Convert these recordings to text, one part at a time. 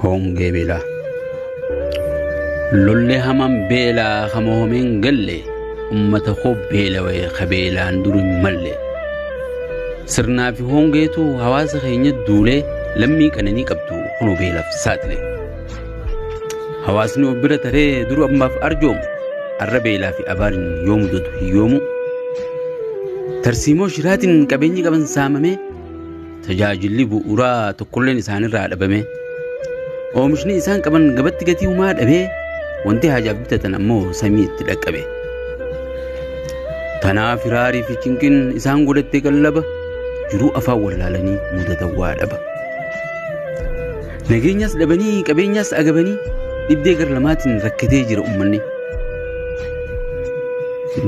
Hongee beelaa. Lollee hamaan beelaa ka mohameen galle ummata koo beelawee ka beelaan duri hin malle. Sirnaa fi hongeetu hawaasa keenya duulee lammii qananii qabdu kun beelaaf saaxile. Hawaasni of bira taree duru ammaaf arjoomu arra beelaa fi abaariin yoo mudatu hin yoomu. Tarsiimoo shiraatiin qabeenyi qaban saamamee tajaajilli bu'uuraa tokkolleen isaanirraa dhabamee oomishni isaan qaban gabatti gatii umaa dhabee wanti haajaaf bitatan ammoo samii itti dhaqqabe. Kanaaf hiraarii fi cinqin isaan godhatte qallaba jiruu afaan wallaalanii mudatan waa dhaba. Nageenyas dhabanii qabeenyas agabanii dhibdee gar lamaatiin rakkatee jira uummanni.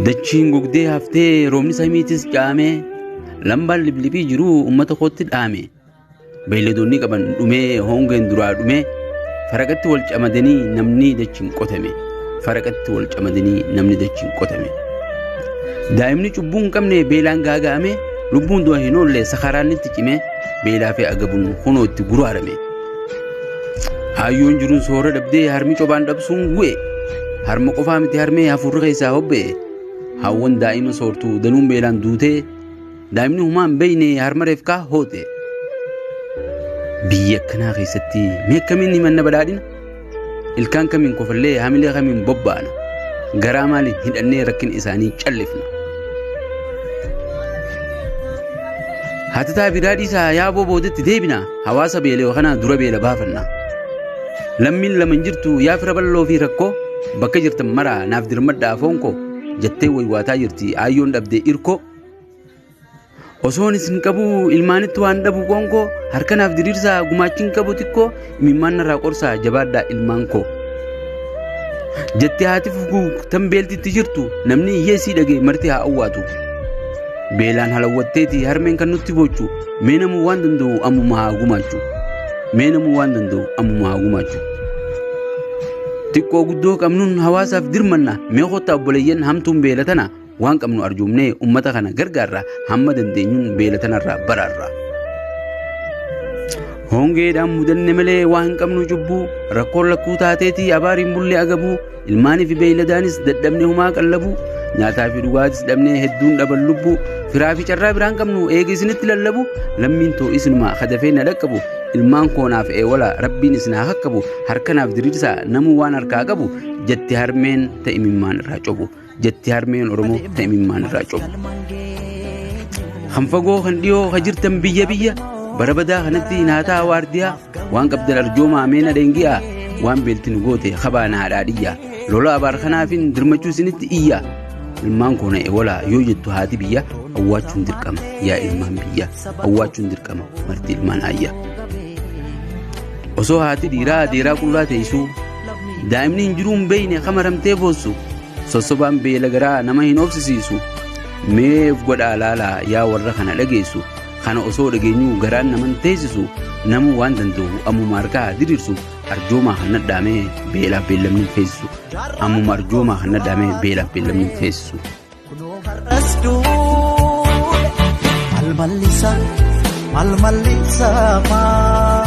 Dachiin gogdee haftee roobni samiitis caamee Lambaan liblipii jiru uummata kootti dhaame. Beeyladoonni qaban dhumee hongeen duraa dhumee faraqatti wal camadanii namni dachiin qotame. Faraqatti wal camadanii namni dachiin qotame. Daa'imni cubbuu hin qabne beelaan gaaga'ame lubbuun du'a hin oolle sakaraan itti cime beelaa fi agabuun kunoo itti guraarame. Haayyoon jiruun soora dhabdee harmi cobaan dhabsuun gu'e. Harma qofaa miti harmee hafuurri keessaa hobba'e. Haawwan daa'ima soortu danuun beelaan duute daa'imni humaa hin beeyne harmareef kaa hoote. Biyya akkanaa keessatti mee akkamiin himanna badhaadhina? Ilkaan kamiin kofallee hamilee kamiin bobbaana? Garaa maaliin hidhannee rakkina isaanii callifna? Hatataa bidaa dhiisaa yaaboo boodetti deebina hawaasa beela'e kanaa dura beela baafanna. Lammiin lama hin jirtu yaa fira balloo fi rakkoo bakka jirtan maraa naaf dirmadha afoon koo jattee waywaataa jirti aayyoon dhabdee irkoo osoon isin qabu ilmaanitti waan dhabu qoon koo harka naaf diriirsaa gumaachiin qabu xiqqoo imimmaan narraa qorsaa jabaadhaa ilmaan koo jettee haati fuguu tan beeltitti jirtu namni hiyyeessii dhagee marti haa awwaatu beelaan halawwatteeti harmeen kan nutti boochu Mee namuu waan danda'u ammuma haa gumaachu. Mee namuu waan danda'u ammuma haa gumaachu. Xiqqoo guddoo qabnuun hawaasaaf dirmanna mee kottaa obboleeyyan hamtuun beela tana waan qabnu arjoomnee ummata kana gargaarra hamma dandeenyuun beela tanarraa baraarra. Hongeedhaan mudanne malee waa hin qabnu cubbuu rakkoon lakkuu taateetii abaariin bullee agabuu Ilmaanii fi beeyladaanis dadhabne humaa qallabu nyaataa fi dhugaatis dhabnee hedduun dhaban lubbu firaa fi carraa biraan qabnu eega isinitti lallabu lammiin too isinumaa kadafee na dhaqqabu ilmaan koonaaf eewala rabbiin isin haa kakkabu harkanaaf diriirsaa namuu waan harkaa qabu jette harmeen ta'imimmaan irraa cobu. jetti harmeen Oromoo ta imimmaan irraa cobu. Kan fagoo kan dhiyoo kan jirtan biyya biyya bara badaa kanatti naataa waardiyaa waan qabdan arjoomaa meena dhengi'aa waan beelti nu goote kabaa na haadhaa dhiyyaa lola abaar kanaafin dirmachuu isinitti iyyaa ilmaan koo na ewalaa yoo jettu haati biyya awwaachuun dirqama yaa ilmaan biyya awwaachuun dirqama marti ilmaan ayya osoo haati dhiiraa adeeraa qullaa teessuu daa'imni hin jiruu hin beeyne akka maramtee boossu sossobaan beela garaa nama hin obsisiisu meef godhaa laalaa yaa warra kana dhageessu kana osoo dhageenyuu garaan naman teessisu namuu waan danda'u ammuma harkaa haa diriirsu arjoomaa kan nadhaamee beelaaf beellamni hin feessisu ammuma arjoomaa kan nadhaamee beelaaf beellamni hin feessisu. Har'as duule, mal mallisa, mal mallisa maa.